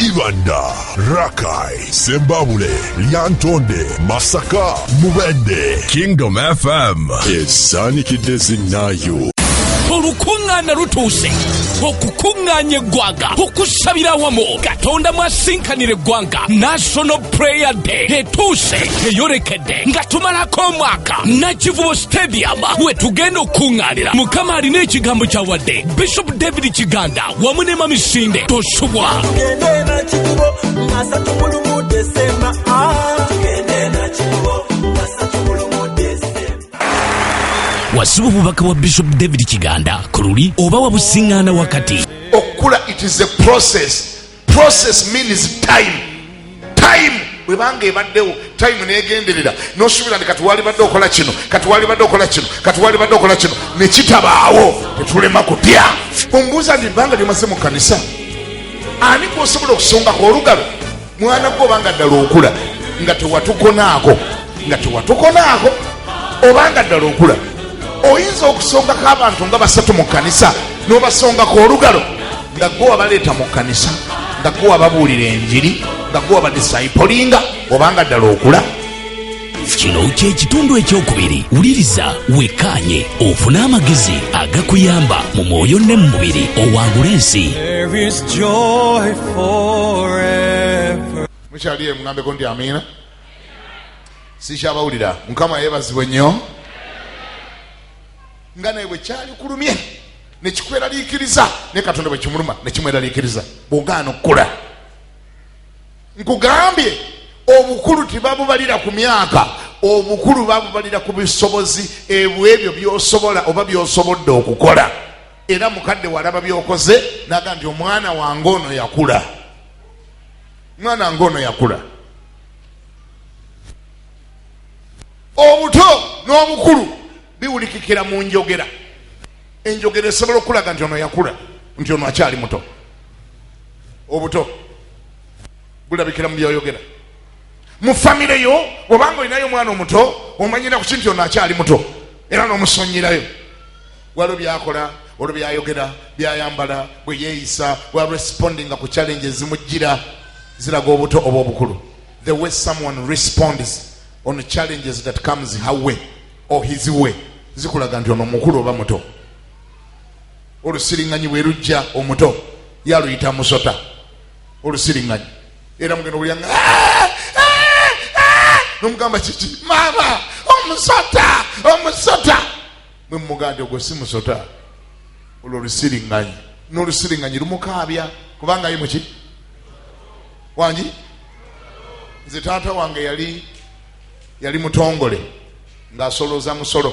Ibanda, Rakai, Sembabule, Lyantonde, Masaka, Mubende. Kingdom FM. Ezanikidde zinnayo. olukuŋŋaana lutuuse okukuŋŋaanya eggwanga okusabira awamu katonda mwasinkanira eggwanga national prayer day etuuse eyolekedde nga tumalako omwaka nakivubo stadium we tugenda okukuŋŋaanira mukama alina ekigambo kyawadde bishop david kiganda wamu ne mamisinde tosubwa wasiba obubaka bwa bishop david kiganda ku luli oba wabusiŋŋaana wakati okukula it is a process process means time time bwebanga ebaddewo time negenderera nosuubira nti kati walibadde okola kino kati walibadde okola kino kati walibadde okola kino nekitabaawo tetulema kutya ombuuza nti ebbanga lyomaze mu kanisa ani gwosobola okusongako olugalo mwana gwe obanga ddala okula nga tewatukonaako nga tewatukonaako obanga ddala okula oyinza okusongako abantu nga basatu mu kanisa nobasongako olugalo nga gwe wabaleeta mu kkanisa nga gwe wababuulira enjiri nga gwe wabadisaipolinga obanga ddala okula kino kyekitundu ekyokubiri wuliriza wekkaanye ofune amagezi agakuyamba mu mwoyo ne mu mubiri owangula ensi mukyali ye mugambeko nti amiina sikyabawulira mukama yebazibwe nnyo nga naye bwe kyali kulumye nekikweraliikiriza ne katonda bwe kimuluma ne kimweraliikiriza bwogaana okukula nkugambye obukulu tebabubalira ku myaka obukulu babubalira ku bisobozi ebwebyo byosobola oba byosobodde okukola era mukadde walaba byokoze naga nti omwana wange ono yakula mwana wange ono yakula obuto n'obukulu biwulikikira mu njogera enjogera esobola okulaga nti ono yakula nti ono akyali muto obuto bulabikira mu byoyogera mu famire yo obanga olinayo omwana omuto omanyira kuki nti ono akyali muto era nomusonyirayo waliwo byakola olwo byayogera byayambala bweyeyisa waresipondinga ku challenge ezimujjira ziraga obuto oba obukulu the way someone responds on challenges that comes her way or his way zikulaga nti ono mukulu oba muto olusiringanyi bwerujja omuto yaluyita musota olusiringanyi era mugenda okulyanga ah! ah! nomugamba kiki maama omusota omusota mwe mumugandi ogwo si musota olwo olusiringanyi nolusiringanyi lumukaabya kubanga ye muki wangi nze taata wange yali yali mutongole ng'asoloza musolo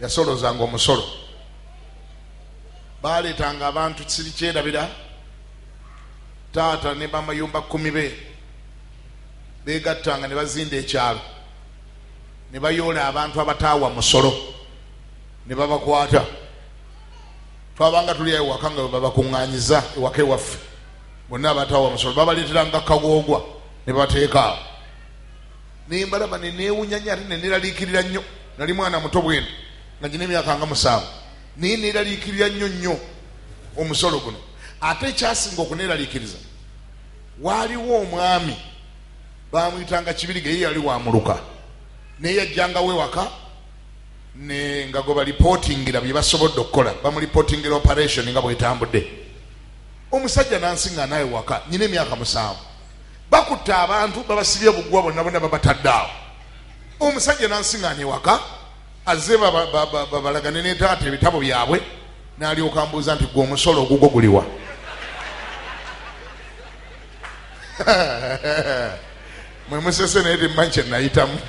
yasolozanga omusolo baaleetanga abantu siri kyerabira taata ne bamayumba kkumi be beegattanga ne bazinda ekyalo ne bayoola abantu abataawa musolo ne babakwata twabanga tuli ayo waka nga babakuŋŋanyiza ewaka ewaffe bonna abataawa musolo babaleeteranga kagoogwa ne bateeka awo ne mbalaba ne neewunya nnyo ate ne neeraliikirira nnyo nali mwana muto bwene nga gina emyaka nga musanvu naye neeraliikirira nnyo nnyo omusolo guno ate ekyasinga okuneeraliikiriza waaliwo omwami bamuyitanga kibiriga ye yali wamuluka naye yajjangawo ewaka nga gwe balipotingira bye basobodde okukola bamulipotingira operation nga bwetambudde omusajja nansinga naawe waka nyina emyaka musanvu bakutte abantu babasibye bugwa bonna bonna babatadde awo omusajja nansiŋaana ewaka azze babalagane netaata ebitabo byabwe nalyoka mbuuza nti gwe omusolo ogugwo guliwa mwe musese naye timmanyi kyenayitamu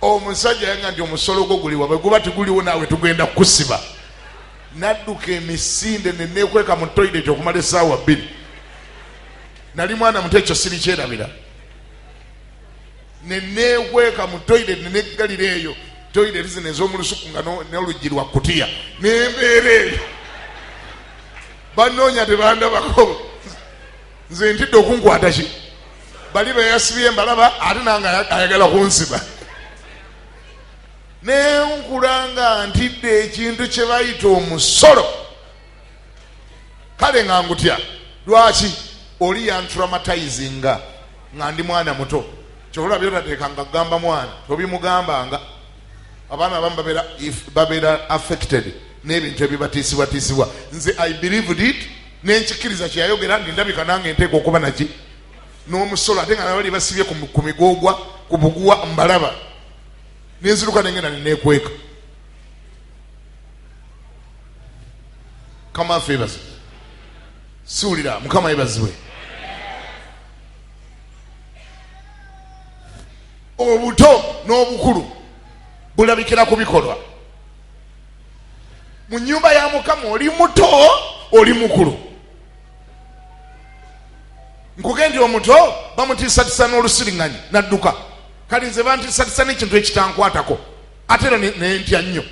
omusajja yanga nti omusolo gwo guliwa bwe guba tiguliwo naawe tugenda kukusiba nadduka emisinde ne neekweka mu toyireti okumala essaawa bbiri nali mwana muto ekyo siri kyerabira ne neekweka mu toyireti ne neggalira eyo toyireti zino ez'omu lusuku nga n'oluggi lwa kutiya nembeera eyo bannoonya tebandabako nze ntidde okunkwata ki bali beyasibye mbalaba ate nange ayagala kunsiba nenkula nga ntidde ekintu kye bayita omusolo kale nga ngutya lwaki oli yanturamatizinga nga ndi mwana muto kyobola byotateeka nga gamba mwana tobimugambanga abaana abamu babeera affected n'ebintu ebibatiisibwatiisibwa nze i believed it nenkikiriza kyeyayogera nti ndabika nange enteeka okuba naki n'omusolo ate nga nabali basibye ku migogwa ku buguwa mbalaba nenziruka nengenda nenekweka mukama affe yebazi siwulira mukama yebaziwe obuto n'obukulu bulabikira ku bikolwa mu nyumba ya mukama oli muto oli mukulu nkugendya omuto bamutiisatisa n'olusiriŋanyi nadduka kale nze bantisatisa nekintu ekitankwatako ate era nentya nnyo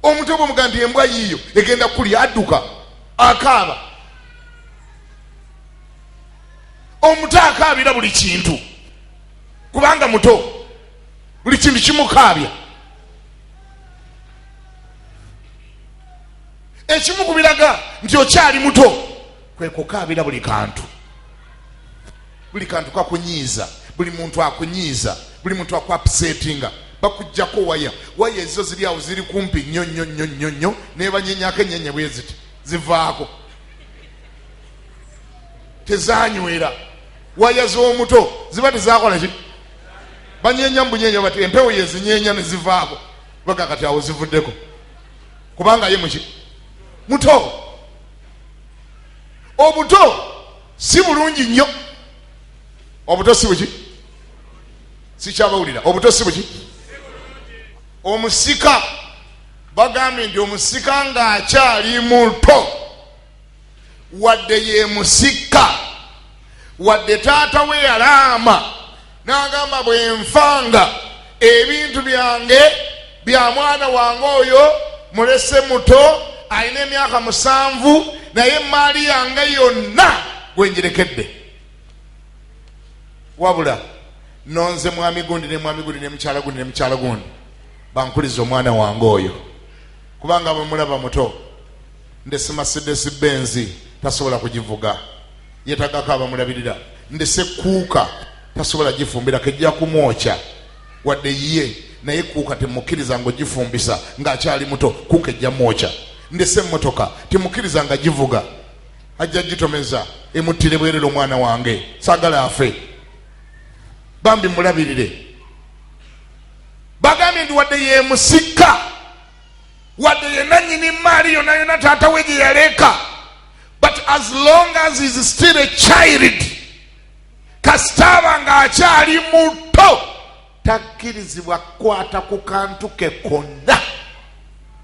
omuntu oba omugaa nti embwa yiiyo egenda kukulya adduka akaaba omuto akaabira buli kintu kubanga muto buli kintu kimukaabya ekimu ku biraga nti okyali muto kwe kukaabira buli kantu buli kantu kakunyiiza buli muntu akunyiiza buli muntu akuapsetinga bakujjako waya waya ezizo ziri awo ziri kumpi nnyo nnyo nnyo nnyo nnyo nebanyenyako enyenya bweziti zivaako tezanywera waya z'omuto ziba tezakola ki banyenya mubunyenya bati empewo yezinyenya nezivaako baga kati awo zivuddeko kubanga ye muki muto obuto si bulungi nnyo obuto si buki sikyabawulira obuto si buki omusika bagambye nti omusika ng'akyali muto wadde ye musika wadde taata we yalaama n'agamba bwe nfanga ebintu byange bya mwana wange oyo mulese muto alina emyaka musanvu naye emmaali yange yonna gwenjirekedde wabula nonze mwami gundi ne mwami gundi ne mukyala gundi ne mukyala gundi bankuliza omwana wange oyo kubanga bamulaba muto Ndese Mercedes Benz tasobola kugivuga yetagako abamulabirira. Ndese Kuuka tasobola gifumbirako ejja kumwokya wadde yiye naye Kuuka temukiriza nga ogifumbisa ng'akyali muto Kuuka ejja mwokya. Ndese emmotoka temukiriza nga givuga ajja gitomeza emuttire bwerere omwana wange sagala afe bambi mulabirire bagambye ndi wadde yemusika wadde yenanyini maali yona yona taata we gye yaleeka but as long as is still a child kasitaaba nga akyali muto takkirizibwa kukwata ku kantu ke konna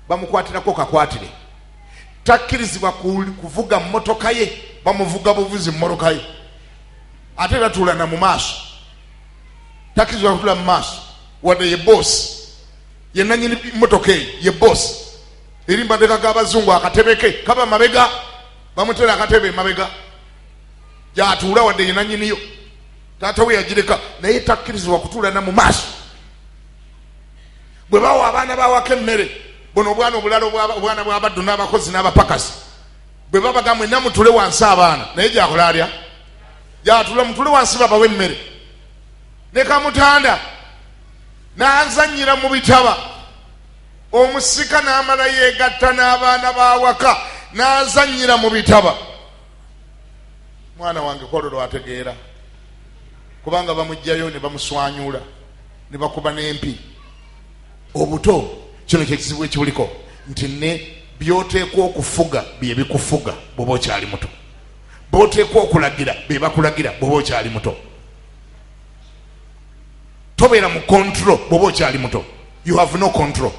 bamukwatirako kakwatire takkirizibwa kuvuga mmotoka ye bamuvuga buvuzi mmotoka ye ate tatuulana mu maaso takkirizibwa kutula mu maaso wadde ye boosi ye nanyini motoka eyo ye bosi eri mabega g'abazungu akatebeke kaba mabega bamutera akatebe mabega gyatuula wadde ye nanyiniyo taata we yagireka naye takkirizibwa kutuula na mu maaso bwe bawa abaana bawako emmere buno obwana obulala obwana bwabaddu n'abakozi n'abapakasi bwe babaga mwena mutule wansi abaana naye gyakola alya gyatula mutule wansi babawa emmere ne kamutanda n'azannyira mu bitaba omusika n'amala yeegatta n'abaana b'awaka n'azannyira mu bitaba mwana wange kwolwo lwategeera kubanga bamugjayo ne bamuswanyula ne bakuba n'empi obuto kino kyekizibu ekibuliko nti ne byoteekwa okufuga byebikufuga bwoba okyali muto boteekwa okulagira bebakulagira bwoba okyali muto tobeera mu control bwoba okyali muto you have no control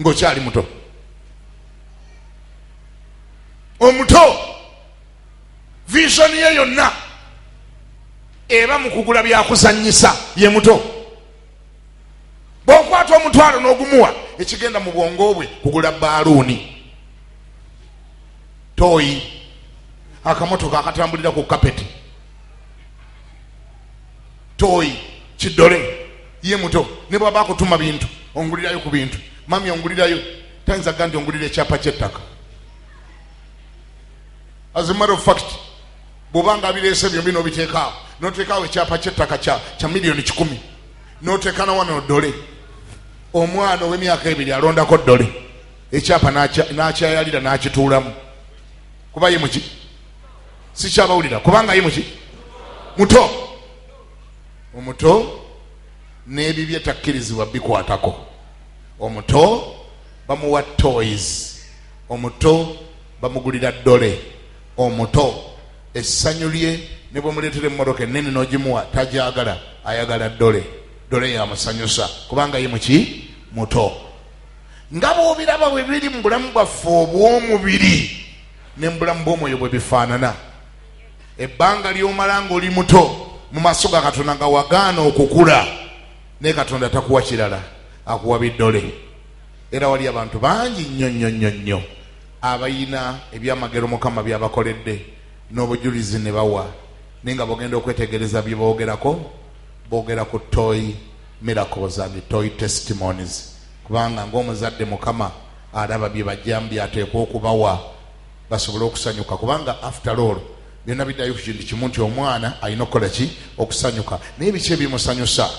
ngaokyali muto omuto vision ye yonna eba mu kugula byakuzanyisa ye muto bwokwata omutwalo n'ogumuwa ekigenda mu bwongo bwe kugula baaluuni toyi akamotoka akatambulira ku kapeti toyi kidole ye muto ne bwaba akutuma bintu ongulirayo ku bintu mami ongulirayo tayinza ga nti ongulira ekyapa kyettaka as a matter of fact bwobanga abireese byombi nobiteekaawo noteekaawo ekyapa kyettaka kya miliyoni kikumi noteeka na wano dole omwana owemyaka ebiri alondako dole ekyapa nakyayalira nakituulamu kuba ye muki sikyabawulira kubanga ye muki muto omuto n'ebibye takkirizibwa bikwatako omuto bamuwa toys omuto bamugulira ddole omuto essanyu lye ne bwemuleetera emmotoka ennene n'ogimuwa tagyagala ayagala ddole ddole yamusanyusa kubanga ye muki muto nga bwobiraba bwe biri mu bulamu bwaffe obw'omubiri ne mu bulamu bw'omwoyo bwe bifaanana ebbanga ly'omala ng'oli muto mu maaso ga katonda nga wagaana okukula naye katonda takuwa kirala akuwa biddole era wali abantu bangi nnyo nnyo nnyo nnyo abayina ebyamagero mukama byabakoledde n'obujulizi ne bawa naye nga bogenda okwetegereza bye boogerako boogera ku toyi miracles and toy testimonies kubanga ng'omuzadde mukama alaba byebajjamu byateekwa okubawa basobole okusanyuka kubanga after all byonna biddayo kukintu kimu nti omwana alina okukola ki okusanyuka naye biki ebimusanyusa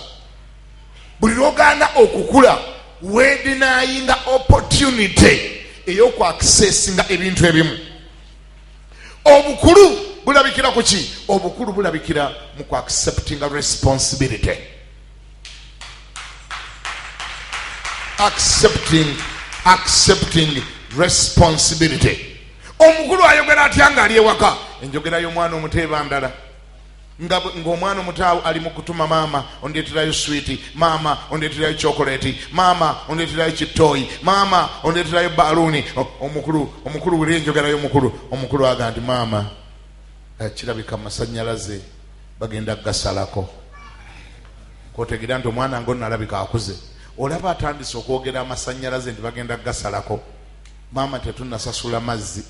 buli lwogaana okukula wedinayinga opportunity eyokwakisesinga ebintu ebimu obukulu bulabikira ku ki obukulu bulabikira mu kuacceptinga responsibility accepting accepting responsibility omukulu ayogera atya nga ali ewaka enjogera y'omwana omuto eba ndala ng'omwana omuto ali mu kutuma maama ondeeterayo switi maama ondeeterayo chokoleti maama ondeeterayo kittooyi maama ondeeterayo baluuni omukulu omukulu wuli enjogera y'omukulu omukulu aga nti maama eh, kirabika masanyalaze bagenda kugasalako kotegera nti omwana nga onalabika akuze olaba atandise okwogera amasanyalaze nti bagenda kugasalako maama tetunasasula mazzi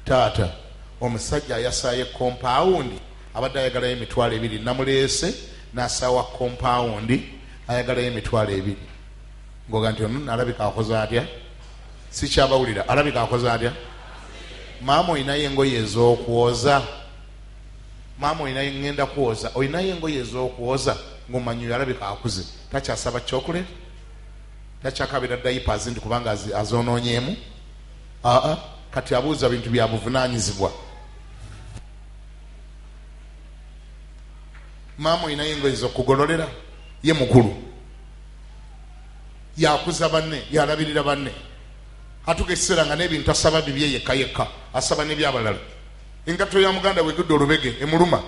taata omusajja ayasaye kompawundi abadde ayagalayo emitwalo ebiri namuleese nasawa kompawundi ayagalayo emitwalo ebiri ngoga nti ono alabika akoze atya sikyabawulira alabika akoze atya maama olinayo engoye ezokwoza maama olinayo ngenda kwoza olinayo engoye ezokwoza ngomanyi yalabika akuze takyasaba chocolate takyakabira daipas nti kubanga azononyemu aa kati abuuza bintu byabuvunanyizibwa maama olinayo engoye zokugololera ye mukulu yakuza banne yalabirira banne atuka ekiseera nga nebintu asaba bibye yekka yekka asaba nebyabalala Engatto ya muganda we edudde olubege emuluma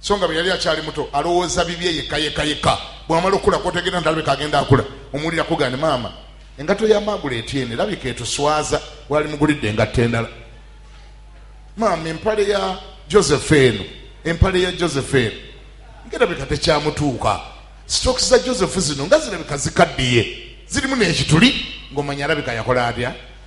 so nga bwe yali akyali muto alowooza bibye yekka yekka yekka bwamala okukula kotegera nti alabika agenda akula omuwulira kugane maama engatto ya maagula etyene labika etuswaza wali mugulidde engatto endala maama empale ya joseph eno empale ya joseph eno ngerabika tekyamutuuka sitoki za joseph zino nga zirabika zikaddiye zirimu nekituli ng'omanya alabika yakola atya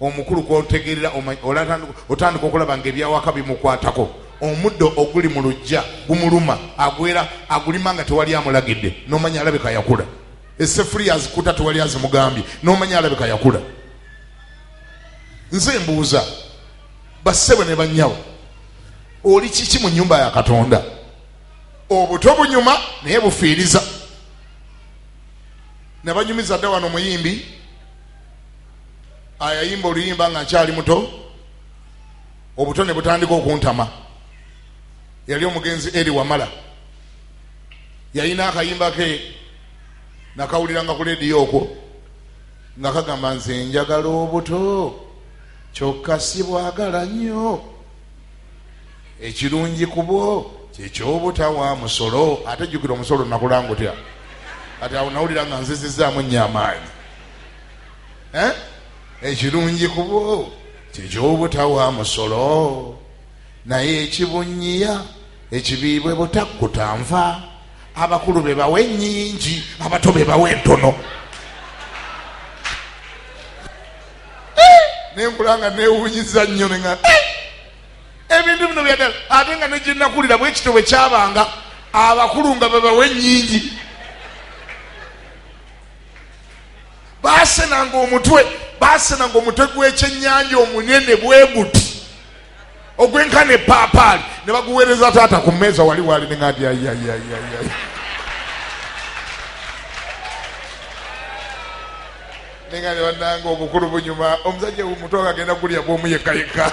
omukulu kwotegerera otandika okulaba nga ebyawaka bimukwatako omuddo oguli mu lujja gumuluma agwera agulima nga tewali amulagidde nomanya alabika yakula esefuriya azikuta tewali azimugambye nomanya alabika yakula nze mbuuza bassebo ne banyawo oli kiki mu nyumba ya katonda obuto bunyuma naye bufiiriza nabanyumiza dda wano muyimbi ayayimba oluyimba nga nkyali muto obuto ne butandika okuntama yali omugenzi eri wamala yalina akayimba ke nakawuliranga ku lediyo okwo nga kagamba nze njagala obuto kyokka sibwagala nnyo ekirungi kubwo kyekyobutawa musolo ate jjukira omusolo nakulanga otya kati awo nawulira nga nzizizaamu nnyo amaanyi eh? ekirungi kubo kyekyobutawa musolo naye ekibunyiya ekibiibwe butakkuta nva abakulu bebawa enyingi abato bebawa entono eh! nenkulanga newunyiza nnyo nea eh! ebintu bino byadala ate nga negyenakulira bwekito bwe kyabanga abakulu nga bebawa enyingi baasenanga omutwe baasenanga omutwe gw'ekyennyanja omunene bwe guti ogwenkana epaapaali ne baguweereza taata ku mmeeza wali waali ne ngati ayayayayay nenga ne bannanga obukulu bunyuma omusajja omutwe agagenda kulya bwomu yekka yekka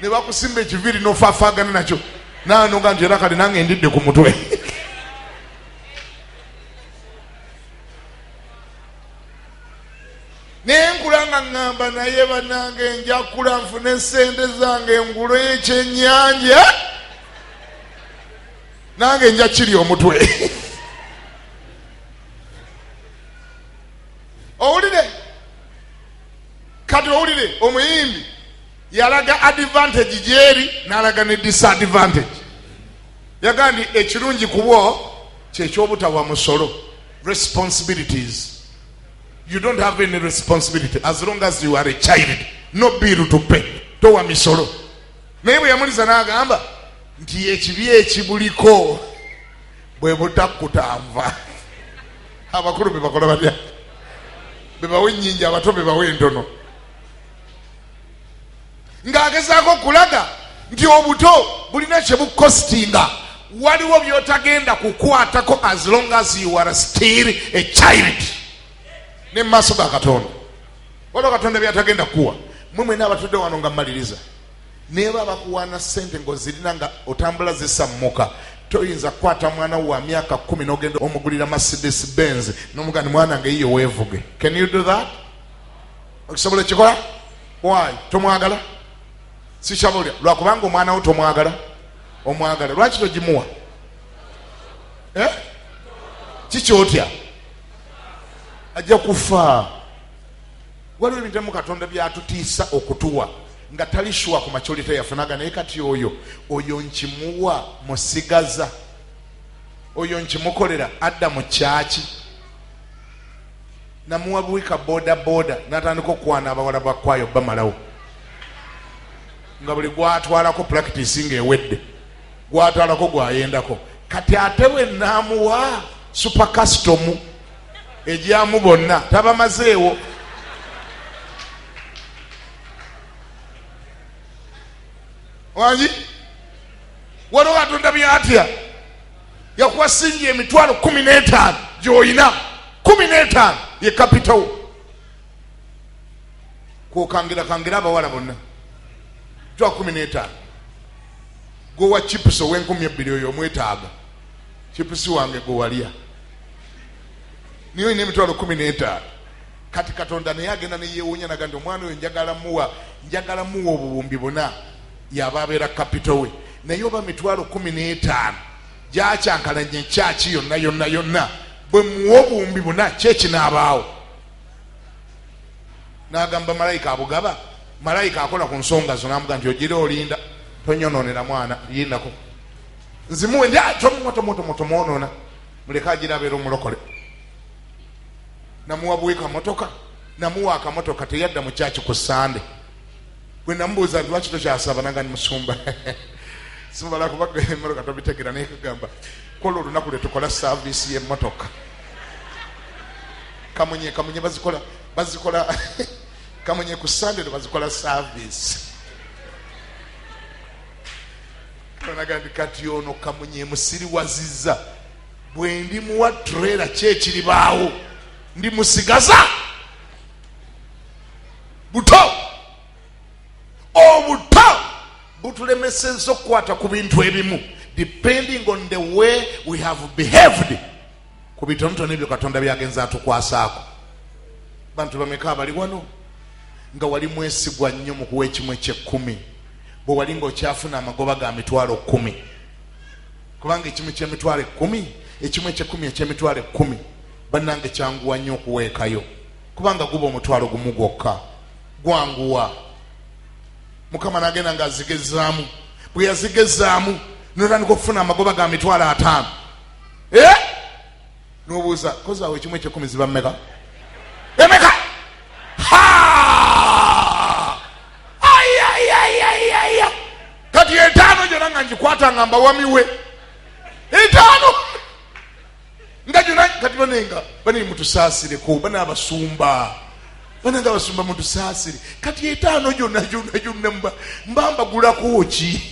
ne bakusimba ekiviiri nofafaagana nakyo nanoga nti era kale nange ndidde ku mutwe naye nkula nga ŋŋamba naye banange njakula nfune sente zange ngulo ekyenyanja nange nja kiri omutwe owulire kati owulire omuyimbi yalaga advantage gyeri n'alaga ne disadvantage yagaa nti ekirungi kubwo kyekyobutawa musolo responsibilities you don't have any responsibility as long as you are a child no bill to pay towa misolo naye bwe yamuliza n'agamba nti ekibi ekibuliko bwe butakutanva abakulu bebakola batya bebawa ennyingi abato bebawa entono ng'agezaako okulaga nti obuto bulina kye bukositinga waliwo by'otagenda kukwatako as long as you are still a child ne mu maaso ga katonda waliwo katonda byatagenda kukuwa mwe mwena abatudde wano nga mmaliriza neeba bakuwaana ssente ng'ozirina nga otambula zisammuka toyinza kukwata mwana wa myaka kumi nogenda omugulira mercedes benz nomugani mwana nga eyiyo weevuge can you do that okisobola ekikola wayi tomwagala sikyabolya lwakubanga omwana wo tomwagala omwagala lwaki togimuwa eh? kikyotya ajja kufa waliwo ebintu emu katonda byatutiisa okutuwa nga tali shuwa ku macolita yafunaga naye kati oyo oyo nkimuwa musigaza oyo nkimukolera adda mu kyaki namuwa buwi ka boda boda natandika okukwana abawala bakwayo bamalawo nga buli gwatwalako practice nga ewedde gwatwalako gwayendako kati ate bwe namuwa super custom egyamu bonna tabamazeewo wangi waliwo katonda byatya yakuwa singi emitwalo kumi n'etaano gy'olina kumi n'etaano ye kapitawo kwokangira kangira abawala bonna twa kumi n'etaano gwewa chipusi ow'enkumi ebbiri oyo omwetaaga chipusi wange gwe walya niye olina emitwalo kumi n'etaano kati katonda naye agenda neyewunya naga nti omwana oyo njagala muwa njagala muwa obuwumbi buna yaba abeera kapito we naye oba mitwalo kumi n'etaano gyakyankalanya ekyaki yonna yonna yonna bwe muwa obuwumbi buna kyekinaabaawo n'agamba malayika abugaba malayika akola ku nsonga zo namuga nti ogira olinda tonyononera mwana yinako nzimuwe ndi tomutomutomutomwonona muleke agira abeera omulokole namuwa buwekamotoka namuwa akamotoka teyadda mu kyaki ku sande gwe namubuuza nti lwaki tokyasaba nanga ni musumba simala kuba emotoka tobitegera naye kugamba kola olunaku lwetukola saavisi yemotoka kamunye kamunye bazikola bazikola kamunye ku sande lwe bazikola saavisi naga nti kati ono kamunye musiriwaziza bwe ndi muwa trela kyekiribaawo ndi musigaza buto obuto butulemeseza okukwata ku bintu ebimu depending on the way we have behaved ku bitonotono ebyo katonda byagenza atukwasaako bantu bameka abali wano nga wali mwesigwa nnyo mu kuwa ekimu ekyekkumi bwe wali ngaokyafuna amagoba ga mitwalo kkumi kubanga ekimu kyemitwalo ekkumi ekimu ekyekkumi ekyemitwalo ekkumi bannange kyanguwa nnyo okuweekayo kubanga guba omutwalo gumu gwokka gwanguwa mukama nagenda nga azigezaamu bwe yazigezaamu notandika okufuna amagoba ga mitwalo ataano e eh? nobuuza kozaawo ekimu ekyekumi ziba mumeka emeka kati etaano gyona nga ngikwata nga mbawamiwe etaano nga gyona kati banenga banene mutusaasireko bana abasumba bananga abasumba mutusaasire kati etaano gyona gyona gyonna mbambagulako ki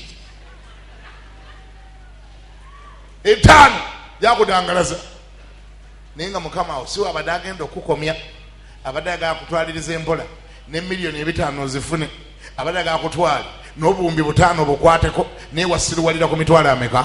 etaano yakudangalaza naye nga mukama awo siwe abadde agenda okukukomya abadde agala kutwaliriza empola ne miliyoni ebitaano ozifune abadde agala kutwala n'obuwumbi butaano bukwateko naye wasiruwalira ku mitwalo ameka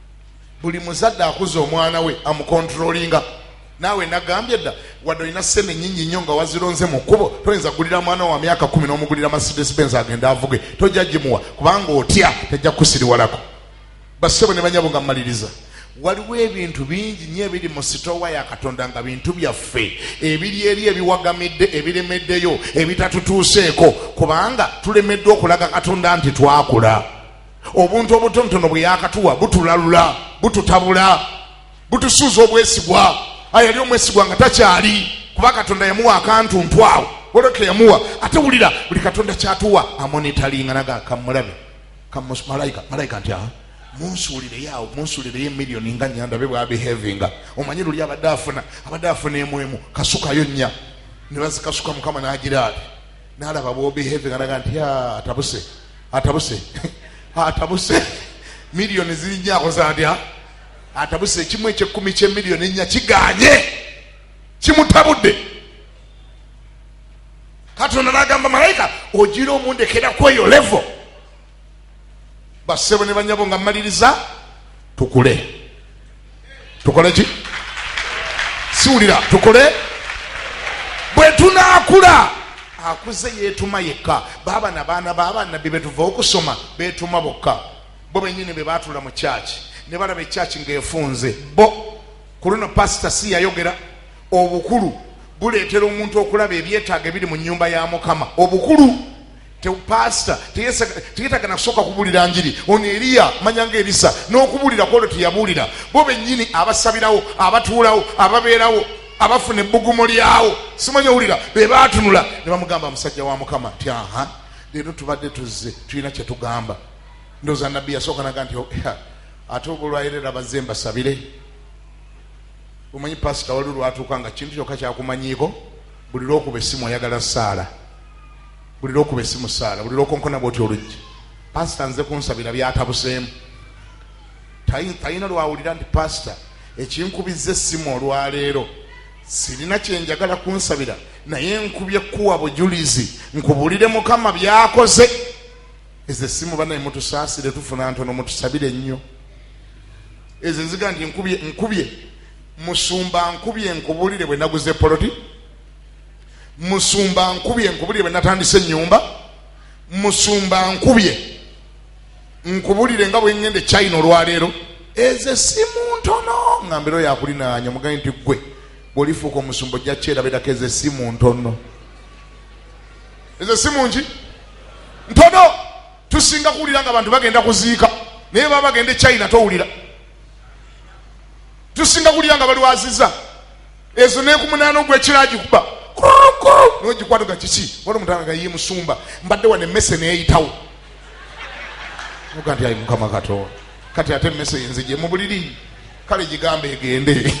buli muzadde akuza omwana we amukontrolinga naawe nagambye dda wadde olina sente nyingi nnyo nga wazironze mu kkubo toyinza kugulira mwana wa myaka kumi n'omugulira mercedes benz agenda avuge tojja gimuwa kubanga otya tajja kukusiriwalako bassebo ne banyabo nga mmaliriza waliwo ebintu bingi nyo ebiri mu sitowa ya katonda nga bintu byaffe ebiri eri ebiwagamidde ebiremeddeyo ebitatutuuseeko kubanga tulemeddwa okulaga katonda nti twakula obuntu obutonotono bwe yakatuwa butulalula bututabula butusuuza obwesigwa ayali omwesigwa nga takyali kuba katonda yamuwa akantu ntwawo waliwo keyamuwa ate wulira buli katonda kyatuwa amonitalinga naga kamulabe malayika malayika nti aha munsuulireyo awo munsuulireyo emiliyoni nga nyandabe bwabihevinga omanyi luli abadde afuna abadde afuna emu emu kasukayo nnya ne bazikasuka mukama n'agira ati nalaba bwobehaving alaga nti atabuse atabuse atabuse miliyoni zirinya akoza atya atabuse ekimu ekyekkumi kyemiliyoni ennya kiganye kimutabudde katonda nagamba malayika ogira omundekera kweyo levo bassebo ne banyabo nga mmaliriza tukule tukole ki siwulira tukole bwe tunaakula akuze yeetuma yekka baaba na baana babanabbi betuva okusoma beetuma bokka bo benyini be baatula mu kyaki ne balaba ekyaki ng'efunze bo ku luno pasita si yayogera obukulu buleetera omuntu okulaba ebyetaago ebiri mu nyumba ya mukama obukulu pasita teyetaga nakusooka kubuulira njiri ono eriya manyanga erisa n'okubuulira kwolwo teyabuulira bo bennyini abasabirawo abatuulawo ababeerawo abafuna ebbugumo lyawo simanyi owulira be baatunula ne bamugamba musajja wa mukama ti aha leero tubadde tuzze tulina kye tugamba ndooza nabbi yasooka naga nti oh, ate obulwayerera bazze mbasabire omanyi pasita wali lwatuuka nga kintu kyokka kyakumanyiiko buli lwokuba essimu oyagala saala buli lwokuba esimu saala buli lwokonkona bwoti oluggi pasita nze kunsabira byatabuseemu tayina lwawulira nti pasita ekinkubiza essimu olwaleero sirina kyenjagala kunsabira naye nkubye kuwa bujulizi nkubulire mukama byakoze ezo essimu banaye mutusaasire tufuna ntono mutusabire ennyo ezo eziga nti nkubye nkubye musumba nkubye nkubulire bwe naguze poloti musumba nkubye nkubulire bwenatandisa enyumba musumba nkubye nkubulire nga bwengende china olwaleero eze simu ntono nga mbera oyo akulinanya mugambe nti gwe bwolifuuka omusumba ojja kyerabirako eze simu ntono eze simu nki ntono tusinga kuwulira nga abantu bagenda kuziika naye baba bagenda e china towulira tusinga kuwulira nga balwaziza ezo nekumunaana ogwekira agikuba nogikwata ga kiki wali omutanga gayiye musumba mbadde wano emmese neyitawo oga nti ayi mukama katonda kati ate emmese yenzije mu buliri kale gigamba egende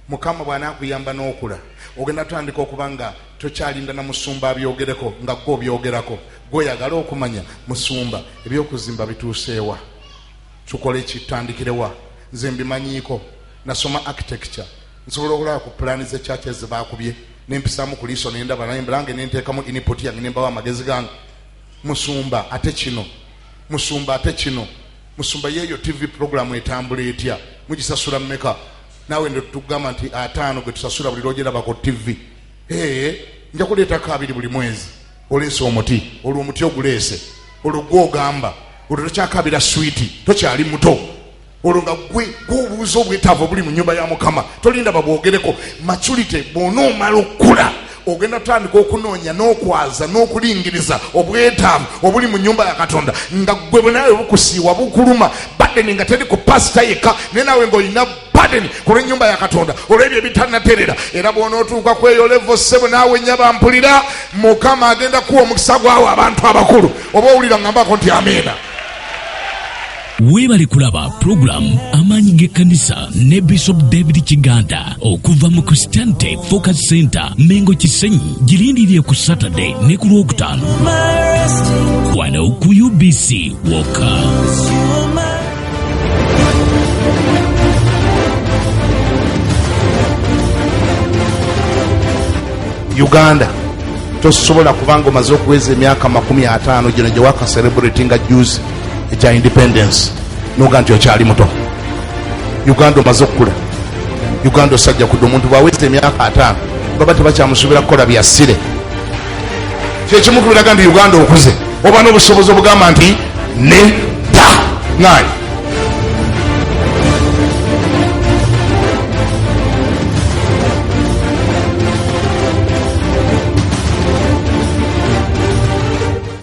mukama bwanakuyamba n'okula ogenda tutandika okuba nga tokyalinda na musumba abyogereko nga gwe obyogerako gweoyagala okumanya musumba ebyokuzimba bituuseewa tukole ki tutandikire wa nze mbimanyiiko nasoma architecture nsobola okulaba ku pulaani ze church ezibakubye nempisaamu ku liiso nendaba naye mbulange nenteekamu input yange nembawo amagezi gange musumba ate kino musumba ate kino musumba yeeyo tv programu etambula etya mugisasula mumeka naawe ndo tugamba nti ataano gwe tusasula buli lwogeraba ku tv ee nja kuleetako abiri buli mwezi oleese omuti olwo omuti oguleese olwo gwe ogamba olwo tokyakabira switi tokyali muto olwo nga gwe gwobuuza obwetaavu obuli mu nyumba ya mukama tolinda babwogereko maculite bwona omala okukula ogenda tutandika okunoonya n'okwaza n'okulingiriza obwetaavu obuli mu nyumba ya katonda nga gwe bwenawe bukusiiwa bukuluma badeni nga teri ku pasita yekka naye nawe ngaolina padeni ku lw'ennyumba ya katonda olw'ebyo ebitanaterera era bw'onootuuka kweyo levo ssebo naawe nnya bampulira mukama agenda kuwa omukisa gwawo abantu abakulu oba owulira ngambako nti amiina weebale kulaba pulogulaamu amaanyi g'ekkanisa ne bishop david kiganda okuva mu christianity focus center mengo kisenyi girindirire ku saturday ne ku lwokutaano wano ku ubc woka uganda tosobola kubanga omaze okuweza emyaka makumi ataano gino gyewaka celebrity nga juzi ekya independence noga nti okyali muto uganda omaze okukula uganda osajja kudde omuntu bwaweza emyaka ataano baba tebakyamusubira kukola byasire kyekimu kubiraga nti uganda okuze oba n'obusobozi obugamba nti nedda ngaayi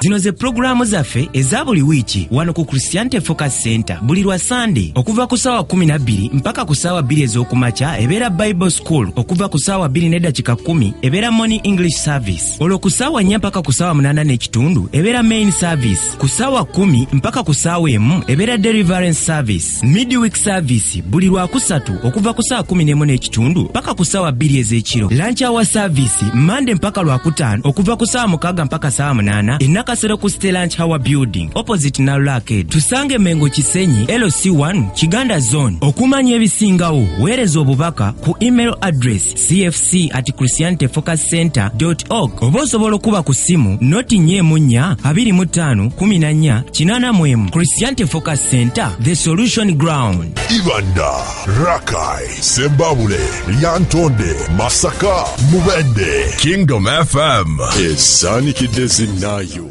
zino ze pulogulaamu zaffe eza buli wiiki wano ku christianity focus center buli lwa sande okuva ku saawa 12 mpaka ku saawa 2 ez'okumakya ebeera bible school okuva ku saawa 2 n'eddakika 1 ebeera morning english service olwo ku saawa 4 mpaka ku saawa 8 n'ekitundu ebeera main service ku saawa 1 mpaka ku saawa emu ebeera deliverance service midweek service buli lwakusatu okuva ku saa 11 n'ekitundu paka ku saawa bbiri ez'ekiro lanci awa service mande mpaka lwakutaano okuva ku saawa mukaaga mpaka saawa munaana enakasero ku ste lanci hour building opposite nalulaked tusange mengo kisenyi lc1 kiganda zone okumanya ebisingawo weereza obubaka ku email address cfc at christianity focus center org oba osobola okuba ku ssimu noti nya emu nnya abiri mu ttaano kumi na nnya kinaana mu emu christianity focus center the solution ground ibanda rakai sembabule lyantonde masaka mubende kingdom fm esaanikidde zinnaayo